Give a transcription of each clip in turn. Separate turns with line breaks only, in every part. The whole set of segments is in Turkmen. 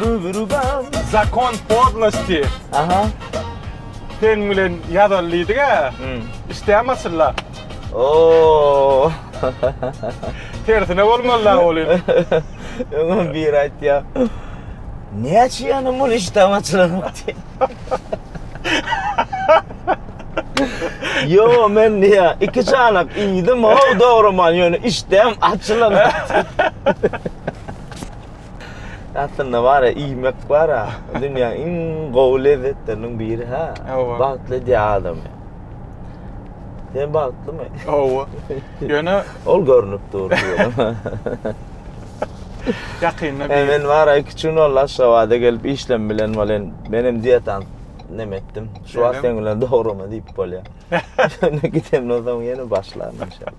Rubirubam. Zakon podlosti. Aha.
Sen
bilen ýazaly diýdiga. Işdämi açylla? Oo. Tersine bolmaly da ol indi. Öňem
biri aýtýa. Näçe ýanam ol işdämi açylanok diýip. Ýo men diýýä, iki çanak iýdim, haw dogruman ýöne işdäm açylanok. Aslynda bar ya iýmek bar ya. Dünýäň iň gowy lezzetleriniň biri ha. Hawa. Bagtly edýär adamy. Sen bagtlymy? Hawa.
Ýöne Ol görnüp
dur.
ýakynda He, bir men bar ya iki gün boldy
Aşgabada gelip işlem bilen bolen. Men hem diýetan neme etdim. Şu wagt Şeýlemi? sen bilen dograma diýip bolýar. Ýöne gidemden soň ýene başlaryn inşallah.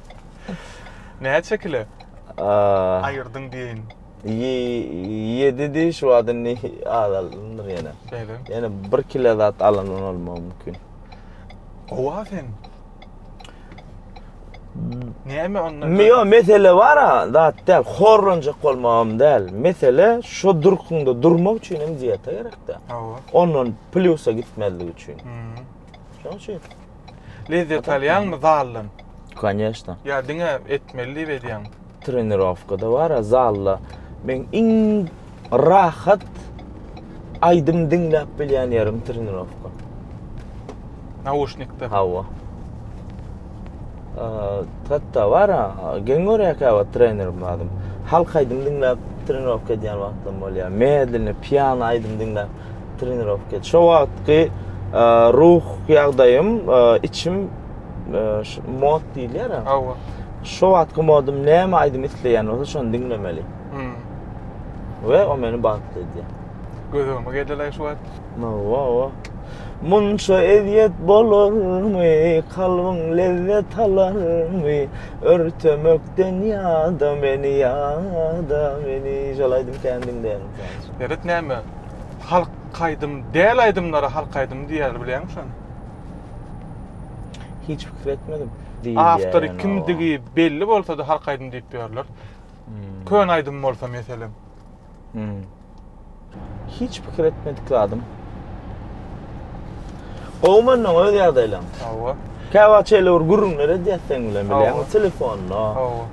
Näçe kile? Aýyrdyň diýeýin. Ýedi diý
şu wagt indi azaldymdyr ýene. Şeýle. Ýene bir kile zat alandan bolmagy mümkin. Gowa
sen. Näme onda? Me ýo mesele bar
ha, zat däl. Horlanjak bolmagam däl. Mesele şu durkunda durmak üçin hem diýete gerekde. Hawa. Ondan plýusa gitmezlik üçin. Şoň üçin. Lezzet
alýaňmy zaldan? Koneşna.
Ýa diňe
etmeli diýip edýäňmi? Trenirowkada
bar-a zalda. Men iň rahat aýdym diňläp bilýän ýerim trenirowka. Nauşnikde.
Hawa.
Hatda bar-a, geň görýär käwagt trenerim adym. Halk aýdym diňläp trenirowka edýän wagtym bolýar. Medlenne, piano aýdym diňläp. trenirowka. Şo wagtky e, ruh ýagdaýym, e, içim e, şu mod diýilýär. Hawa. Şo
wagtky
modum näme aýdym isleýän bolsa şony diňlemeli. Hmm. We o meni bagtly edýär. Gözüme geldi
şu wagt. Hawa.
Munça eziýet bolarmy, kalbyň lezzet alarmy, örtemekden ýada meni, ýada meni. Şol aýdym kän diňleýärin. Ýeret näme?
Halk aýdym däl aýdymlara halk aýdymy diýýärler bilýäňmi şony?
Hiç pikir etmedim. Awtory
kimdigi belli bolsady halk aýdymy diýip ýörler. Hmm. Köne aýdym bolsa meselem. Hmm.
Hiç pikir etmedik zadym. Gowmandan öz ýagdaýlaň. Hawa. Käwa
çeýle bir
gürrüňler edýäs sen bilen bilýäňmi? Telefonda.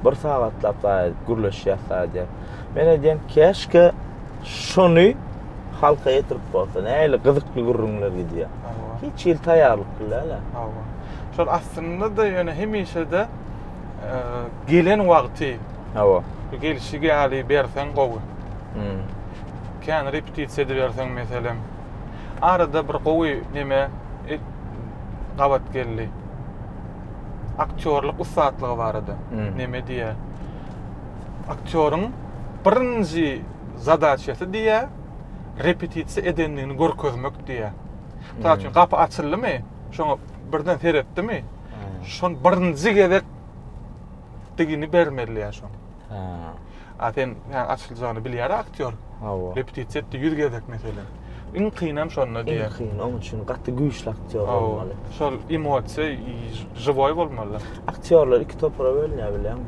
Bir sagatlap zaýa gürleşýäs zaýa. Men edýän keşke Şony halka ýetirip bolsa, nähili gyzykly gürrüňler gidýär. Hawa. Hiç hili taýýarlyk billäl-ä. Hawa. Şol
aslynda-da ýöne hemişe-de e, gelen wagty Hawa. bu
gelşik ýaly
berseň gowy. Hmm. Kän repetisiýa ediberseň meselem. Arada bir gowy neme e, gabat geldi. Aktýorlyk ussatlygy barada. Hmm. Neme diýýär? Aktýoryň birinji zadaçasy diýýä, repetisiýa edendigini görkezmek diýýä. Mysal üçin, gapy açyldymy, şoňa birden seretdimi, şony birinji gezek digini bermeli ýa şoň. A sen açyljagyny bilýär aktýor. Repetisiýa etdi 100 gezek meselem. Iň kynam şonda diýýär. Iň kyn, oň üçin gaty
güýçli aktýor bolmaly. Şol emosiýa
žiwoý bolmaly. Aktýorlar iki
topara bölünýär bilýäňmi?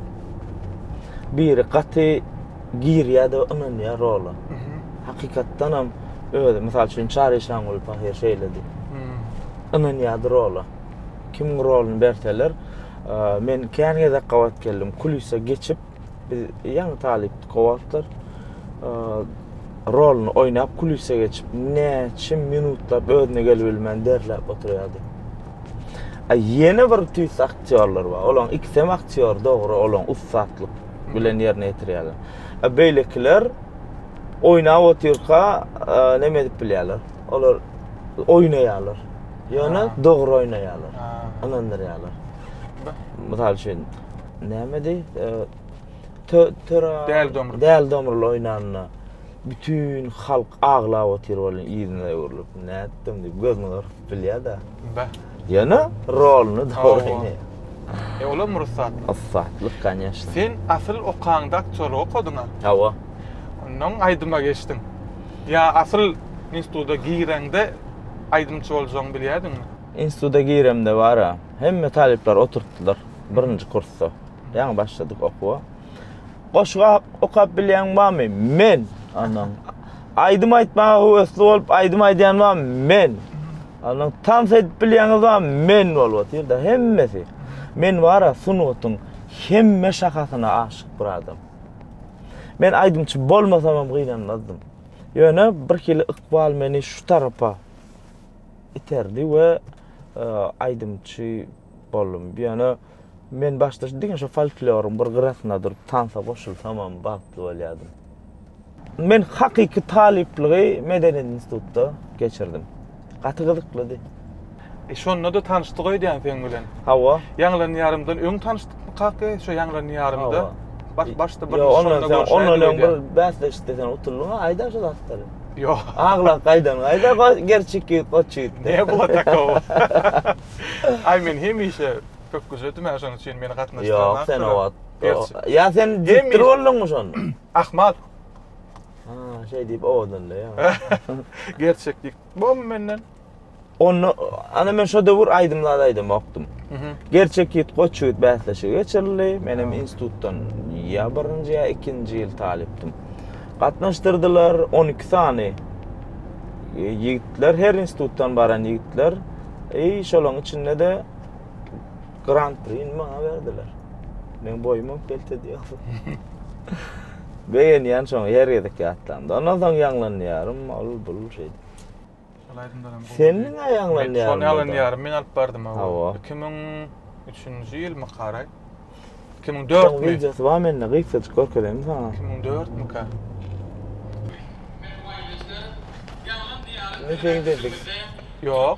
Biri gaty girýär-de ynanýar rola. Hakykatdanam özi, mysal üçin Çary Şangul Pahyr şeýledi. Ynanýardy rola. Kimiň roluny berseler, men kän gezek gabat geldim, kulisa geçip, Biz ýaňy talypdyk o wagtlar. Roluny oýnap, kulise geçip, näçe minutlap özüne gelip bilmän derläp oturýardy. A ýene bir tüýs aktýorlar bar. Olaň ikisi hem aktýor, dogry, olaň ussatlyk bilen ýerine ýetirýärler. A beýlekiler oýnap otyrka näme edip bilýärler? Olar oýnaýarlar. Ýöne dogry oýnaýarlar. Ynandyrýarlar. Mysal üçin, Nämedi? Tö töra Däli domrul. Däli domrul oýnanda bütün halk aglap otyr bolýan ýüzüne öwrülip. Nätdim diýip gözüni gyrpyp bilýär-de. Bä. Ýöne roluny dogry oýnaýar. E olam rugsatly.
Rugsatly, kanyýeşna.
Sen asyl
okaňda aktýorlyk okadyň-a? Hawa.
Onnoň
aýdyma geçdiň. Ýa asyl instituda gireňde aýdymçy boljagyňy bilýärdiňmi? Instituda giremde
bar-a, hemme talyplar oturtdylar. Birinji kursda. Ýaňy başladyk okuwa. Goşgy okap bilýän barmy? Men. Andan. Aýdym aýtmaga höwesli bolup aýdym aýdýan barmy? Men. Andan tans edip bilýäňiz barmy? Men bolup otyrda hemmesi. Men bara sungatyň hemme şahasyna aşyk bir adam. Men aýdymçy bolmasam hem gynanmazdym. Ýöne bir hili ykbal meni şu tarapa iterdi we e, aýdymçy boldum. Ýöne men başda şu diňe şu folkloryň bir gyrasynda durup tansa goşulsamam bagtly bolýardym. Men hakyky talyplygy Medeniýet institutda geçirdim. Gaty gyzyklydy. E şonda-da
tanyşdyk öýdýän seň bilen. Hawa.
Ýaňlanýarymdan
öň tanyşdykmy kaka? Şo ýaňlanýarymda. Hawa. Baş başda bir şonda görüşäýdik öýdýän. Ondan ondan öň
bir bäsleşikde sen utuldyň-a, aýda şu zatlary. Ýok. Aglap
gaýdan
gaýda, gerçi iki goç ýigitdi. Näme bu takowo?
Ay men hemişe pökgüje dümen şonuň üçin meni gatnaşdyrmaň. Yok sen o wagt.
Ya sen diktir boldun mu şonda? Ahmal. Ha şey deyip owadan da ya. Gerçek
deyip. Bu menden. Onu
ana men şu döwür aydymlar aydym okdum. Gerçek yit koç yit bäsleşigi geçirildi. Menem institutdan ya birinci ya ikinci yıl talipdim. Gatnaşdyrdylar on iki sany ýigitler, her institutdan baran ýigitler. Eý, şolaryň içinde-de Gran Prini maňa berdiler. Men boýumam kelte diýýär. Begenýän şoň her gezek ýatlamda. Ondan soň ýaňlanýarym, ol bul şeýdi. Sen mi aýaňlanýaň? Men şony alynýaryn, men
alyp bardym o. Hawa. Iki müň üçünji ýylmy karaý? Iki müň dört müň? Wideosy bar mende,
gysgajyk görkezeýin saňa. Iki müň dört mükä? Ýok.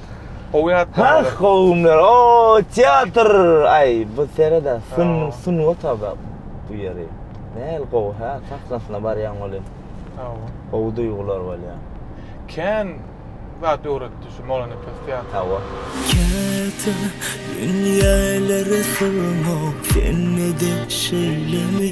Gowy ýatlaň Hah olar. gowy günler
o teatr aý bu sereda syn Sag ol. sungat aba bu ýeri näl gowy hä sahnasyna barýaň welin Sag bol. gowy duýgular bolýa. Kän
zat öwretdi şu Molanepes teatry. Hawa.
Teatr
dünýälere sygmaw sende-de şeýlemi?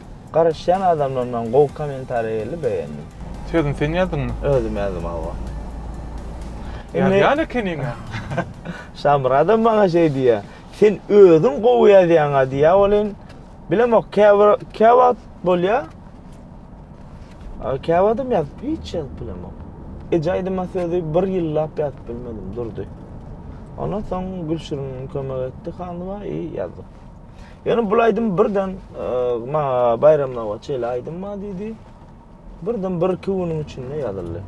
Garaşýan adamlardan gowy kommentariýa geldi begendim. Sözüni sen
ýazdyňmy? Özüm ýazdym hawa.
Ýazýan
ekeniňä.
Şamyradam maňa şeý diýýär. Sen özüň gowy ýazýaňa diýýär welin bilemok käbir käwagt bolýar. Käwagtam ýazyp hiç ýazyp bilemok. Eje aýdyma sözi bir ýyllap ýazyp bilmedim durdy. Ondan soň Gülşirin kömek etdi hanyma i ýazdyk. Ýöne bu aýdym birden ma baýramdan goç şeýle aýdym bar diýdi. Birden bir iki günüň içinde ýazyldy.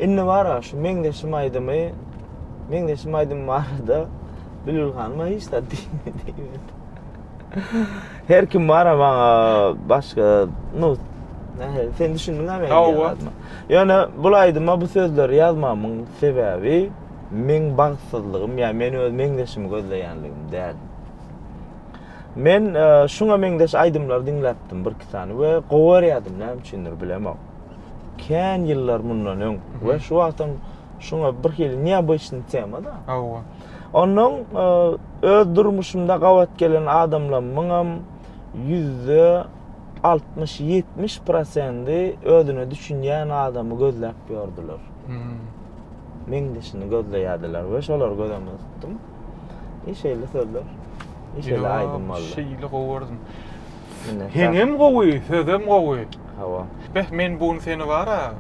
Indi bar
şu meňzeşim aýdymy meňzeşim aýdym barada Bülbül hanyma hiç zat diýmedi. Her kim bar maňa başga nu sen düşündüňmi meni? Ýöne bu aýdyma bu sözleri ýazmamyň sebäbi meň bagtsyzlygym ýa men öz meňzeşimi gözleýänligim däl. Men e, şuňa meňzeş aýdymlar diňläpdim bir iki sany we gowy görýärdim, näme üçindir bilemok. Kän ýyllar mundan öň we şu wagtam şuňa bir hili neobычный tema da. Hawa.
Ondan
e, öz durmuşymda gabat gelen adamlarymyň hem ýüzde altmyş ýetmiş prosendi özüne düşünýän adamy gözläp ýördiler. Hmm. meňzeşini gözleýärdiler we şolary göz öňünde tutdum. E şeýle sözler, e şeýle aýdym boldy. Şeýle gowy gördüm.
Heňem gowy, sözem gowy. Hawa. Beh,
men bu gün
seni bara,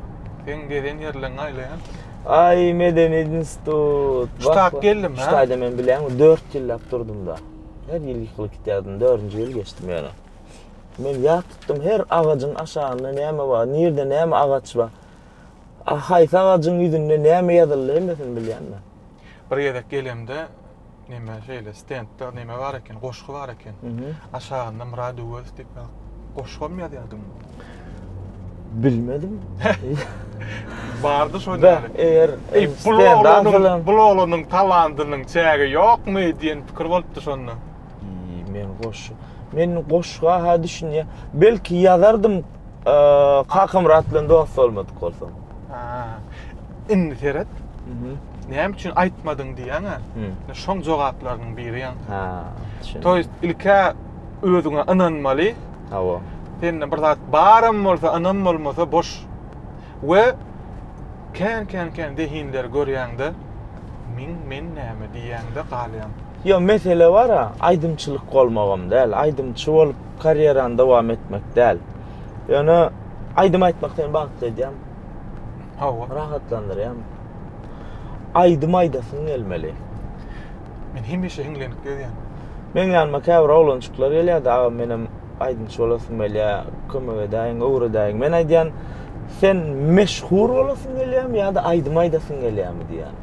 seň gezen ýerleňi aýlaýan. Aý,
medeni institut. Şutak geldim, ha.
Şutaýda men bilýän,
4 ýyllap durdum-da. Her ýyl ýykylyp gitýärdim, 4-nji ýyl geçdim ýöne. Men ýat tutdum, her agajyň aşagynda näme bar, nirde näme agaç bar. Ah, haýsy agajyň ýüzünde näme ýazyldy hemmesini bilýänmi? Bir gezek
gelemde neme şeýle stendde neme bar eken, goşgy bar eken. Aşagynda Murad Öwezow diýip goşgam ýazýardyň. Bilmedim. Bardy şo ýaly.
Eger bu oglanyň
talandynyň çägi ýokmy diýen pikir bolupdy şonda. Men goşgy,
men goşga ha düşünýä. Belki ýazardym, Kakamyrat bilen dost bolmadyk bolsaň.
Indi seret. Näme üçin aýtmadyň diýýäň-ä? Şoň jogaplarynyň biri ýa. Ha. To ýest ilkä özüňe ynanmaly. Hawa.
Sende bir zat
baram bolsa, ynam bolmasa boş. We kän kän kän zehinleri görýäňde, men men näme diýýäňde galýaň. Ýok, mesele
bar-a, aýdymçylyk bolmagam däl, aýdymçy bolup karýerany dowam etmek däl. Ýöne aýdym aýtmak seni bagtly edýär. Hawa.
Rahatlandyrýar.
Aýdym aýdasyň gelmeli. Men
hemişe hiňlenip gezýän. Meň ýanyma
käbir oglançyklar gelýärdi, aga menem aýdymçy bolasym gelýär, kömek edäýiň, öwredäýiň. Men aýdýan, sen meşhur bolasyň gelýärmi ýa-da aýdym aýdasyň gelýärmi diýýän.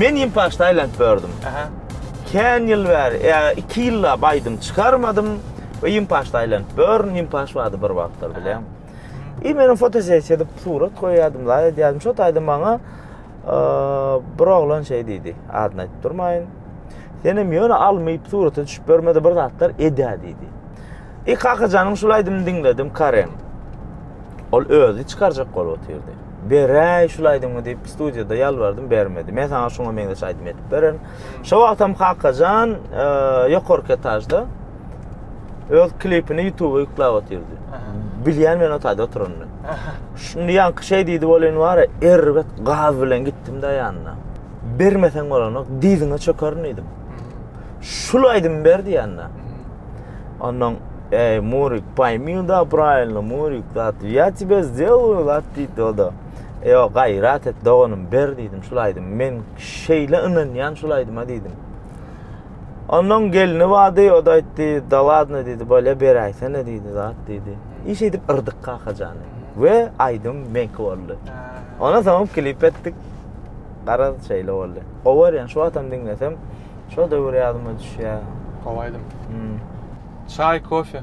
Men hem paçta aýlanyp gördüm. Kän ýyl bäri, ýa iki ýyllap aýdym çykarmadym we hem paçta aýlanyp gördüm, hem paç bardy bir wagtlar bilen. I men fotosessiýa edip surat goýýardym, laý edýärdim. Şo taýda maňa bir oglan şeý diýdi, adyny aýdyp durmaýyn. Sen hem ýöne almyp surata düşüp görmede bir zatlar edä diýdi. I Kakajanyň şul aýdymyny diňledim, Karen. Ol özi çykarjak bolup otyrdy. Beräý şul aýdymy diýip studiýada ýalbardym, bermedi. Men saňa şuňa meňzeş aýdym edip bererin. Şo wagtam Kakajan e, ýokarky etažda öz klipini YouTube-a ýüklap otyrdy. Bilýän men otady oturanyny. Şuny ýaňky şeý diýdi welin bara erbet gaz bilen gitdim-de ýanyna. Bermeseň bolanok, dyzyňa çökerin diýdim. Şul aýdym ber diýende. Ondan ey Murik paýmy da praýylny Murik zat ya tibe zelyu zat diýdi o da. Ey o gaýrat et doganym ber diýdim şul aýdym. Men şeýle ynanýan şul aýdyma diýdim. Ondan gelni bady o da aýtdy da ladna diýdi bolýa beräýsene diýdi zat diýdi. Iş edip yrdyk kakajany. Ve aýdym menki boldy. Ona soň klip etdik. Garaz şeýle boldy. Gowy ýan şu atam diňlesem. Şo döwür ýadyma düşýär. Gowy aýdym. Hmm.
Çaý, kofe.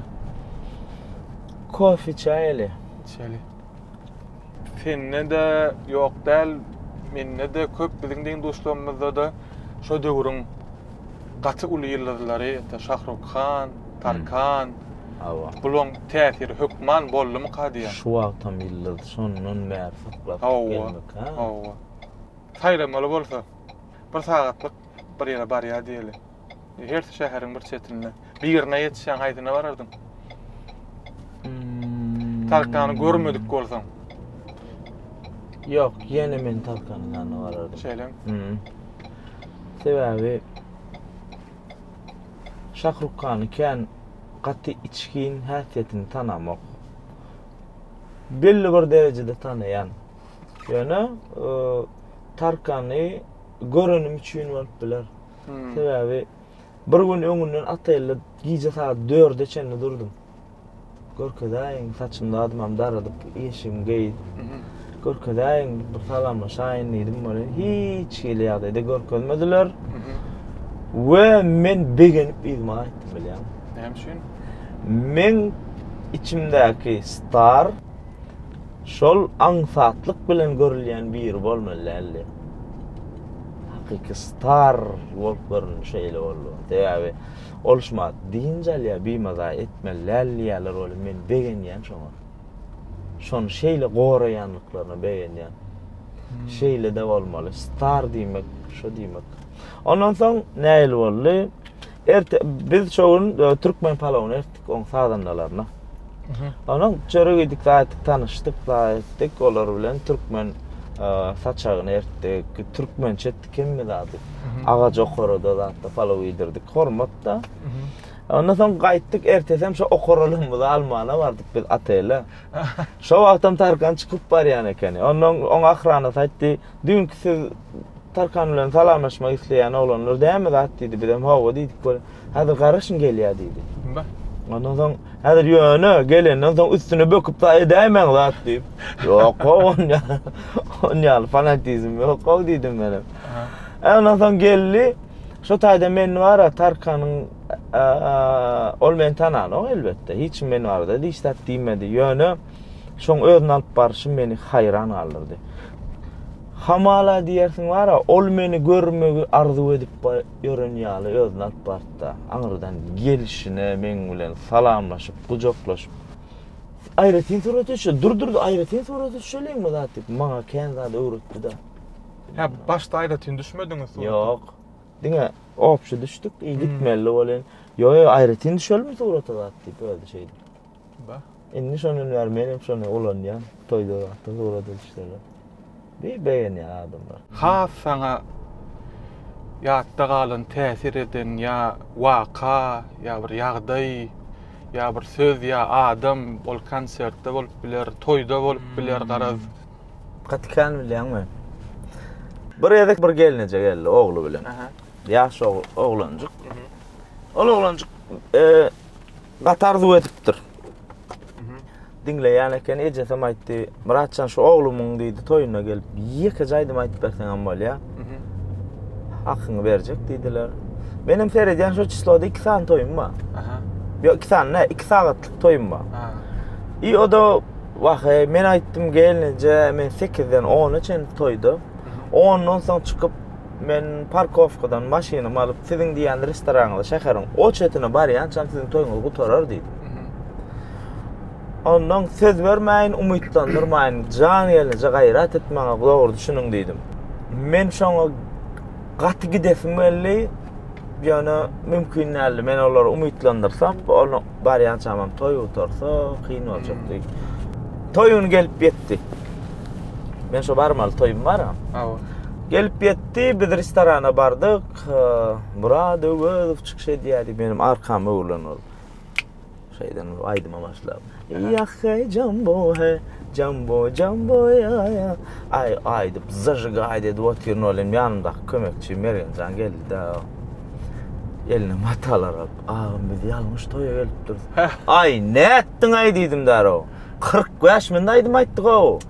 Kofe
çaý eli. Çeli.
Sende de ýok däl, mende de köp biziň deň duşlarymyzda da şo döwrüň gaty uly ýyldyzlary, ýa-da Şahruk Han, Tarkan. Hawa. Bularyň täsiri hökman boldumyka diýýän. Şu wagtam ýyldyz,
şondan bäri syklap gelmekkä.
Hawa. Saýlamaly bolsa. Bir sagatlyk bir ýere barýar diýeli. Hersi şäheriň bir çetinde. Birine ýetişýäň, haýsyna barardyň? Tarkany görmedik bolsaň.
Ýok, ýene men Tarkanyň ýanyna barardym. Şeýlemi?
Sebäbi
Şahrukhany kän gaty içgin häsiýetini tanamok. Belli bir derejede tanaýan. Ýöne Tarkany görenim üçin bolup biler. Sebäbi bir gün öňünden otelde gije sagat 4-e çenli durdum. Görkezäýiň, saçymda adymam daradyp, eşigimi geýip. Görkezäýiň, bir salamlaşaýyn diýdim welin, hiç hili ýagdaýda görkezmediler. We men begenip yzyma gaýtdym bilýäňmi? Näme üçin?
Meň
içimdäki star Şol aňsatlyk bilen görülýän biri bolmaly däldi. Hakyky star bolup göründi şeýle boldy. Sebäbi ol şuma dynç alýar, bimaza etmeli däl diýýärler welin men begenýän şoňa. Şony şeýle goraýanlyklaryna begenýän. Hmm. Şeýle-de bolmaly. Star diýmek, şu diýmek. Ondan soň nähili boldy? Erte biz şu gün e, türkmen palawyny ertdik oň sazandalaryna. Onuň çöre gitdik, zaýatdyk tanyşdyk, zaýatdyk olar bilen türkmen e, saçagyny ertdik, türkmençe etdik hemme zady. Agaç okarada zatda palaw iýdirdik, hormatda. Ondan soň gaýtdyk, ertesi hem şu okaralygymyzy almana bardyk biz otele. Şo wagtam Tarkan çykyp barýan ekeni. Ondan oň ahranasy aýtdy, Düňki siz Tarkan bilen salamlaşmak isleýän oglanlar dämi zat diýdi. Bizem hawa diýdik we häzir garaşyň gelýär diýdi. Bah. Ondan soň häzir ýöne gelenden soň üstüne böküp da edäýmäň zat diýip. Ýok how onýa. Onýa fanatizm ýok how diýdim men hem. Aha. Ondan soň geldi. Şu taýda men bara Tarkanyň ol meni tananok elbetde. Hiç kim men barada hiç zat diýmedi. Ýöne Şoň özüni alyp barşy meni haýran galdyrdy. Hamala diýersiň bar-a, ol meni görmegi arzuw edip ýören ýaly özüni alyp bardy-da, aňyrdan gelşine meň bilen salamlaşyp, gujaklaşyp, Aýratyn surat düşe, dur, dur, aýratyn surat düşeliňmi zat diýip, maňa kän zat öwretdi-de. Hä, başda
aýratyn düşmediňiz surata? Ýok. Diňe
obşy düşdük, gitmeli welin, Ýo-ýo, aýratyn düşelimi surata zat diýip, özi şeýdip.
Indi şondan
bäri men hem şony ulanýan toýda wagtda surat ilişdirdim. Bir begenýär adamlar. Has saňa
ýatda galan täsir eden ýa waka ýa bir ýagdaý ýa bir söz ýa adam ol konsertde bolup biler toýda bolup biler garaz. Gaty kän
bilýän men. Bir gezek bir gelneje geldi ogly bilen. Ýaş oglanjyk. Ol oglanjyk Gaty arzuw edipdir. Diňleýän eken, ejesem aýtdy, Myratjan şu oglumyň diýdi, toýuna gelip, ýekeje aýdym aýdyp berseňem bolýar. Hakyňy berjek diýdiler. Menem seredýän şu çysloda iki sany toýum bar. Aha. Ýok, iki sany ne, iki sagatlyk toýum bar. Ha. I o da wahe, men aýtdym gelneje, men 8-den 10-a çenli toýda. Ondan soň çykyp Men parkowkadan maşynymy alyp, siziň diýýän restoranyňyza şäheriň o çetine barýançam siziň toýuňyz gutarar diýdi. Ondan söz bermäýin, umytlandyrmaýyn, jan gelnije gaýrat et maňa, dogry düşüniň diýdim. Men şoňa gaty gidesim geldi, ýöne mümkin däldi. Men olary umytlandyrsam, Barýan çamam toý gutarsa kyn boljak diýip. Toý güni gelip ýetdi. Men şo barmaly toýum bar. Hawa. Gelip ýetdi, biz restorana bardyk. Murad Öwezow çykyş edýärdi, benim arkam öwrülen ol. Şeýden bir aýdyma başlap. Ýahhe jambo he, jambo jambo ýa ýa. Aý aýdyp, zajigaý edip otyryn, ol hem ýanymdaky kömekçi Mergenjan geldi-de. Eline matalar alyp. Agam biz ýalňyş toýa gelipdiris. Aý, nätdiňaý diýdim därew. Kyrk bäş mende aýdym aýtdyk-ow.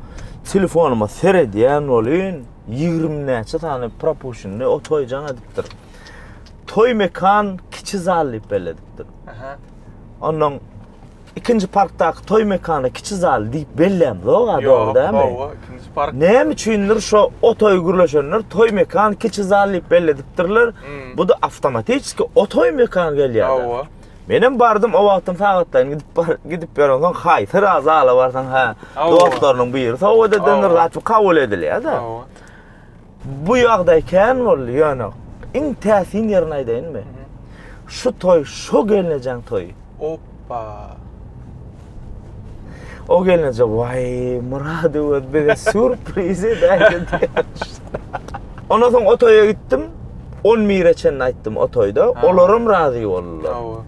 Telefonyma seredýän bolyn, ýigrimi näçe sany propušenni o toý jaň edipdir. Toý mekan kiçi zal diýip belledipdir. Onnoň Ikinji parkdaky toý mekany kiçi zal diýip bellämzog-a, dogry dämi? Ýok, hawa, ikinji park.
Näme üçindir şo
o toýy gürleşenler toý mekany kiçi zal diýip belledipdirler. Bu-da awtomatiçki o toý mekany gelýär. Hawa. Menem bardym, o wagtam sagatlaýyn gidip bar, gidip ýörensoň, haý, syra zala barsaň, hä, dostlarynyň biri sowgat edendir, zat bu kabul edilýär-dä. Hawa. Bu ýagdaý kän boldy, ýöne iň täsin ýerini aýdaýynmy? Şu toý şo gelnejäň toýy. Oppa! O gelneje, Waý, Myrat Öwez bize sýurpriz edäýse diýýärmiş. Ondan soň o toýa gitdim. On bire çenli aýtdym o toýda. Olaram razy boldular. Hawa.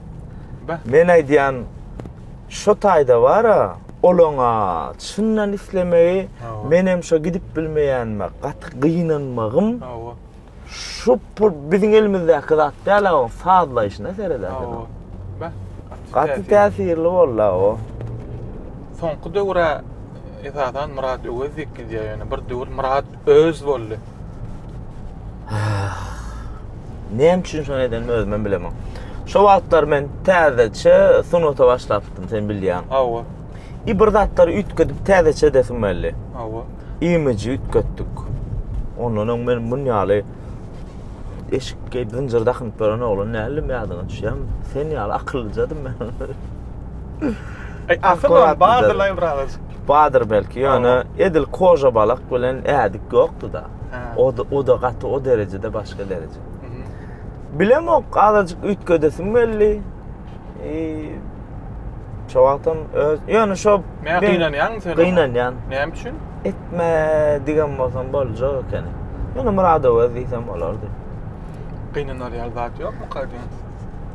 Beh. Men aýdýan, Şo taýda bar-a, olaň-a çyndan islemegi, menem şo gidip bilmeýänime gaty gynanmagym. Hawa. Şu pul biziň elimizdäki zat däl-ä oň sazlaýşyna seredä sen. Hawa. Beh. Gaty täsirli boldy-a o. Soňky
döwür-ä esasan Myrat Öwezik gidýär ýöne bir döwür Myrat Öz boldy.
Näme üçin şony edenimi özümem bilemok. Şo wagtlar men täzeçe sunata başlapdym, sen bilýäň. Hawa.
I bir zatlary
üýtgedip täzeçe edesim geldi. Hawa.
Imiji
üýtgetdik. Ondan öň men muny ýaly eşik geýip zynjyr dakynyp ýören oglan däldim, ýadyňa düşýärmi? Sen ýaly akyllyjadym men.
Akyl bar, bar dylaý biraz. Badyr belki
ýöne edil koža balyk bilen ädik ýokdy-da. O da o da gaty o derejede başga dereje. Bilemok azajyk üýtgedesim geldi. Eee Şo wagtam öz ýöne şo Men gynanýan sen.
Gynanýan. Näme üçin? Etme
diýen bolsam boljak ekeni. Ýöne Murada öz diýsem bolardy. Gynanar
ýaly zat ýokmy kadyýan?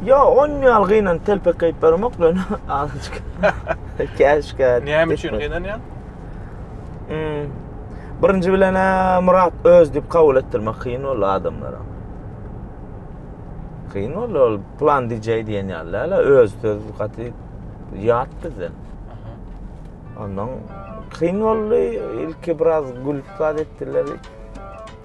Yo, on
ýal gynan telpek geýip bermok men. Azajyk. Käşkä. Näme üçin
gynanýaň? Hmm.
Birinji bilen Murat öz diýip kabul etdirmek kyn boldy adamlara. Kyn boldy ol plan DJ diýen ýaly, öz söz gaty ýat bizden. Ondan kyn boldy, ilki biraz gülüp zat etdiler.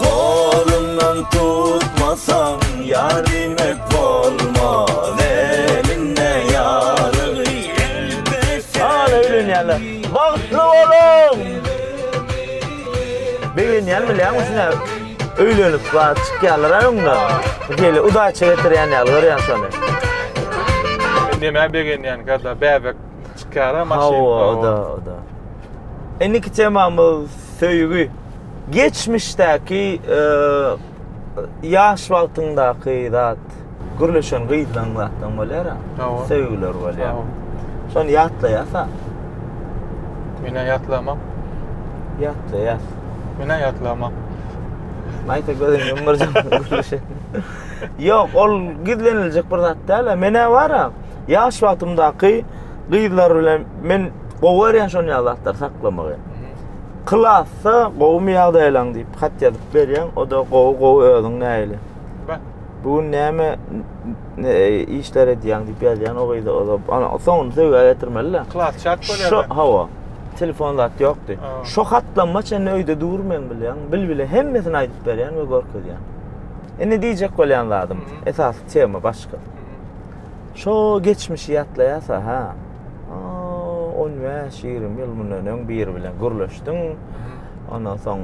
Golumdan tutmasaň ýar diýmek bolmaz elinde ýarygy elbet
Hala öýlenýärler bagtly boluň Begenýän bilýäňmi şuna öýlenip bar çykýarlara öňde Hili udaýça getirýän ýaly görýän şony
Nämä begenýän kada bäbek çykýara maşyn Hawa oda oda
Indiki temamyz söýgi. Geçmişdäki ýaş wagtyňdaky zat gürleşen gyzlaň zatlaň bolýara. Hawa. Söýgüler bolýar. Hawa. Şony ýatlaýasa.
Menä ýatlamam.
Ýatlaýas. Menä
ýatlamam.
Maýsa gözüni ýumurjak gürleşen. Ýok, ol gizleniljek bir zat däl-ä. Menä bar-a, ýaş wagtymdaky gyzlar bilen men gowy görýän şonýal zatlary saklamagy. Klasda gowumy ýagdaýlaň diýip hat ýazyp berýäň, o-da gowy gowy özüň nähili? Bä. Bu gün näme işler edýäň diýip ýazýan o gyza o-da. Ana soňuny söýgä getirmeli-dä. Klas çat bolýar. Şo
hawa.
Telefon zat ýokdy. Şo hatlama çenli öýde dur men bilýäň. Bilbile hemmesini aýdyp berýän we görkezýän. Indi diýjek bolýan zadym, esasy tema başga. Şo geçmişi ýatlaýasa-ha. on bäş ýigrimi ýyl mundan öň biri bilen gürleşdim ondan soň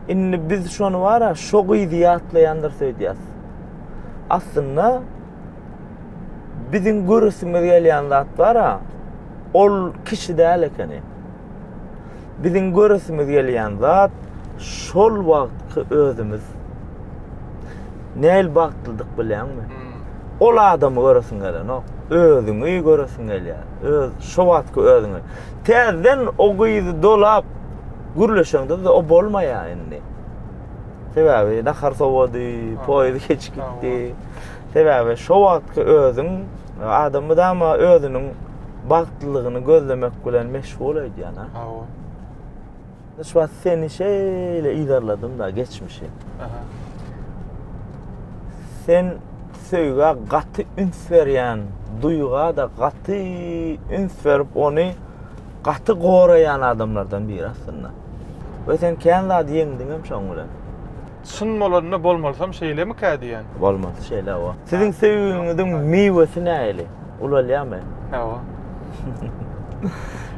indi biz şony bara şo gyzy ýatlaýandyr söýdýäs aslynda biziň göresimiz gelýän zat bara ol kişi däl ekeni Biziň göresimiz gelýän zat şol wagtky özümiz. Näl bagtlydyk bilýäňmi? Hmm. Ol adamy göresiň gelenok. Özüňi göresiň gelýär. Öz şo wagtky özüňi. Täzeden o gyzy dolap gürleşeňde o bolmaýar indi. Sebäbi nahar sowady, poýuz geç gitdi. Sebäbi şo wagtky özüň adam mydama özüniň bagtlylygyny gözlemek bilen meşgul öýdýän ha. Hawa. Hiç wagt seni şeýle yzarladym da geçmişi. Aha. Sen söýgä gaty üns berýän, duýga da gaty üns berip, ony gaty goraýan adamlardan biri aslynda. We sen kän zady ýeňdiňem şoň bilen. Çyn bolanda
bolmalysam şeýlemikä diýýän. Bolmalysy şeýle hawa.
Siziň söýgüňiziň miwesi nähili? Ulalýamy? Hawa.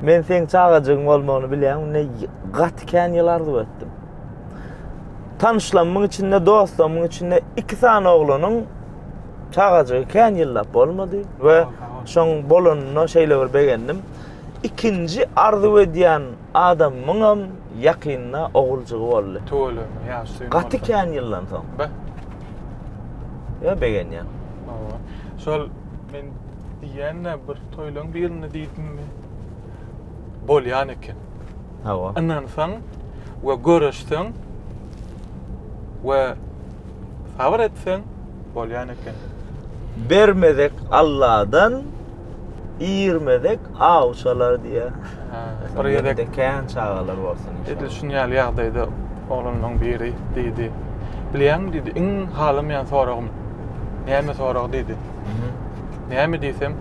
Men seň çagajygyň bolmagyny bilýän günde gaty kän ýyl arzuw etdim. Tanyşlamyň içinde, dostlamyň içinde iki sany oglanyň çagajygy kän ýyllap bolmady we şoň bolanyna şeýle bir begendim. Ikinji arzuw edýän adamymyňam ýakynda oguljygy boldy. Tüweleme, ýaşy süýn
bolsa. Gaty kän ýyldan
soň. Be. Ýa begenýän. Hawa.
Şol men diýýän-de bir toýlaryň birinde diýdimmi? Bolýan eken. Hawa.
Ynansaň
we göreşseň we sabyr etseň bolýan eken. Bermezek
Alladan, Ýermezek awçalar diýýär. Bir gezek
de kän çagalar
bolsun. Edil şun ýaly ýagdaýda
oglanlaryň biri diýdi. Bilýäňmi diýdi, iň halamaýan soragym. Näme sorag diýdi. Näme diýsem,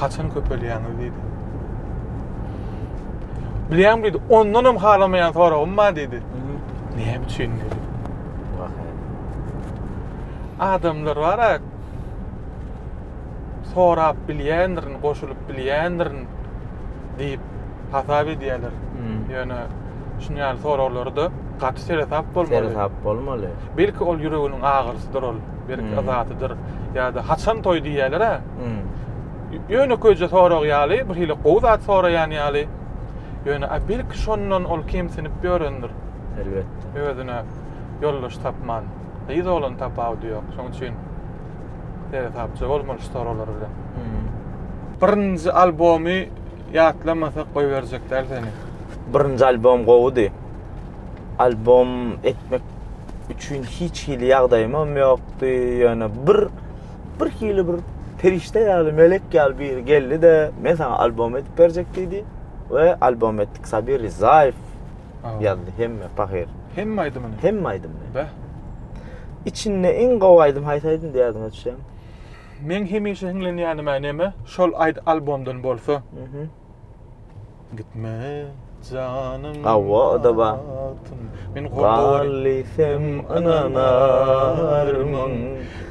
haçan köpelýäňiz diýdi. Bilýäňmi diýdi, ondan hem halamaýan soragym bar diýdi. Näme üçin diýdi. Adamlar bar-a, sorap bilýändirin, goşulyp bilýändirin diýip hasap edýärler. Ýöne şuny ýaly soraglarda gaty seresap bolmaly. Seresap bolmaly.
Belki ol ýüreginiň
agyrysydyr ol, belki yzatydyr ýa-da haçan toý diýýärler-ä. Ýönekeýje sorag ýaly, bir hili gowy zat soraýan ýaly. Ýöne a belki şondan ol kemsinip ýörendir. Elbetde.
Özüne
ýoldaş tapman. Gyz oglan tapawudy ýok. Şoň üçin Seresapja bolmaly şu soralar bilen. Birinji albomy ýatlamasak goýberjek däl seni. Birinji albom
gowudy. Albom etmek üçin hiç hili ýagdaýymam ýokdy. Ýöne bir bir hili bir perişde ýaly, melek ýaly biri geldi-de, men saňa albom edip berjek diýdi we albom etdik. Sabir Rizaýew ýazdy hemme pahyr. Hemme aýdymyny. Hemme
aýdymyny.
Bäh. Içinde iň gowy aýdym haýsy aýdym diýerdiň öçem? Men
hemişe hiňlenýänime neme? Şol aýd albomdan bolsa. Mhm. Gitme janym. Hawa, o da bar.
Men gowy.
Galysym
ynanarmyň?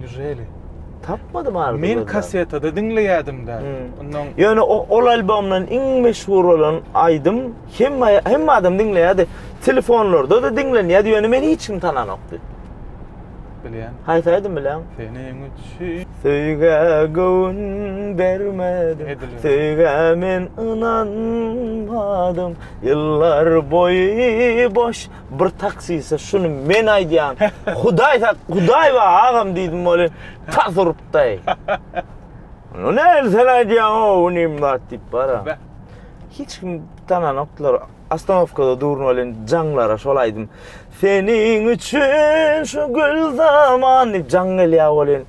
Nijeli.
Tapmadym
ardy. Men kasetada
diňleýädim da. Ondan ýöne o ol
albomdan iň meşhur bolan aýdym hemme hemme adam diňleýärdi. Telefonlarda da diňlenýärdi. Ýöne meni hiç kim tananokdy.
Bilýän. Haýsy aýdym bilýän?
Seniň üçin
söýgä
göwün bermedim. Söýgä men ynanmadym. Ýyllar boýy boş Bir taksiste şuny men aýdýan. Hudaý sak, Hudaý bar agam diýdim welin, tas urupdaý. Ony nähili sen aýdýaň o unim zat diýip bara. Hiç kim tananokdylar. Ostanowkada durun welin jaňlara şol aýdym. Seniň üçin şu gül zaman diýip jaň gelýär welin.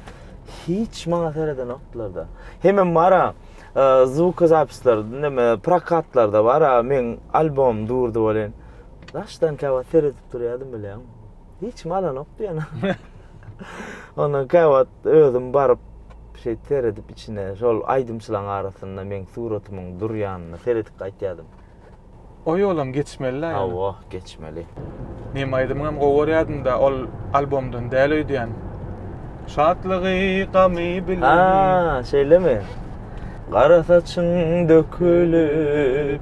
Hiç maňa seredenokdylar-da. Hemem bara e, zvukozapisler, näme prokatlarda bara meň albomym durdy welin. Daşdan käwagt seredip durýardym bileň. Hiç kim alanokdy ýöne. Ondan käwagt özüm baryp şeýt seredip içine şol aýdymçylaryň arasynda meň suratymyň durýanyna seredip gaýtýardym. O
ýolam geçmelidä ýöne. Hawa, geçmeli.
Meň
aýdymymam gowy görýärdim-de, ol albomdan däl öýdýän. Şatlygy, gamy bilen. Ha, şeýlemi?
Gara saçyň dökülip.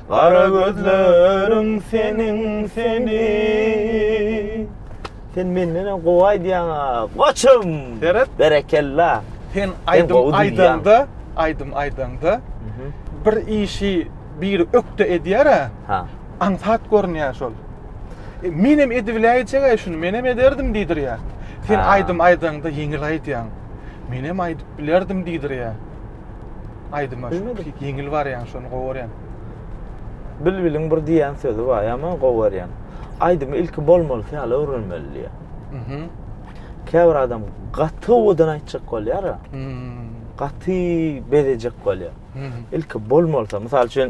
Gara gözleriň seniň seni. Sen menden hem gowy aýdýaň a, goçum. Seret. Berekella. Sen
aýdym aýdanda, aýdym aýdanda bir işi biri ökde edýär a. Ha.
Aňsat görünýär
şol. E, men hem edibiläýjek-aý şuny, men hem ederdim diýdirýär. Sen aýdym aýdanda ýeňil aýdýaň. Men hem aýdyp bilerdim diýdirýär. Aýdyma ýeňil barýan şony gowy görýän.
Bilbiliň bir diýen sözi bar, ýama gowy görýän. Aýdymy ilki bolmalysy ýaly öwrenmeli diýýär. Mhm. Käbir adam gaty owadan aýtjak bolýar. Mhm. Gaty bezejek bolýar. Mhm. Ilki bolmalysy, mysal üçin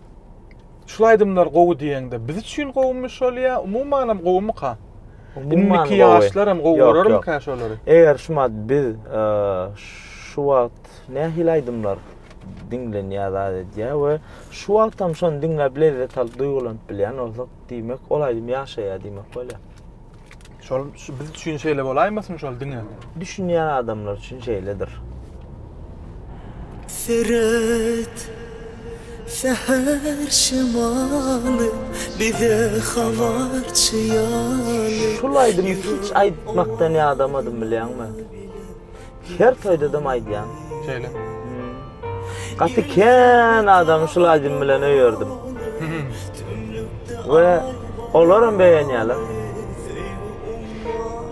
Şul aýdymlar gowy diýeňde biz üçin gowumy şol ýa umumanam gowumyka? Indiki ýaşlaram gowy görermika şolary? Eger şumat biz
şu wagt nähili aýdymlar diňlenýär zat edýär we şu wagtam şony diňläp lezzet alyp duýgulanyp bilýän bolsak diýmek ol aýdym ýaşaýar diýmek bolýar. Şol
şu biz üçin şeýle bolaýmasyn şol diňe. Düşünýän adamlar
üçin şeýledir.
Seret, säher şemaly bize habarçy ýaly. Şul aýdymy hiç
aýtmakdan ýadamadym bilýäňmi. Her toýdadam aýdýan. Şeýle. Gaty kän adamy şul aýdym bilen öýerdim. We olaram beýenýärler.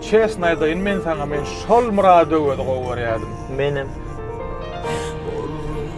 Çesn aýdaýyn men saňa men şol Murad Öwezi gowy görýärdim. Menem.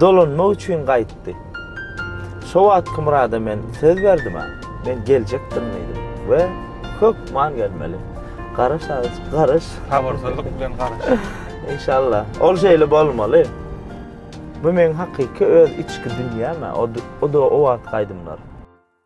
Dolanmak üçin gaýtdy. Şo wagtky Murada men söz berdim-ä, men geljekdirin diýdim we hökman gelmeli. Garaş agys, garaş.
Sabyrsyzlyk bilen garaş. Inşallah.
Ol şeýle bolmaly. Bu meň hakyky öz içki dünýäm-ä, o-da o wagtky aýdymlar.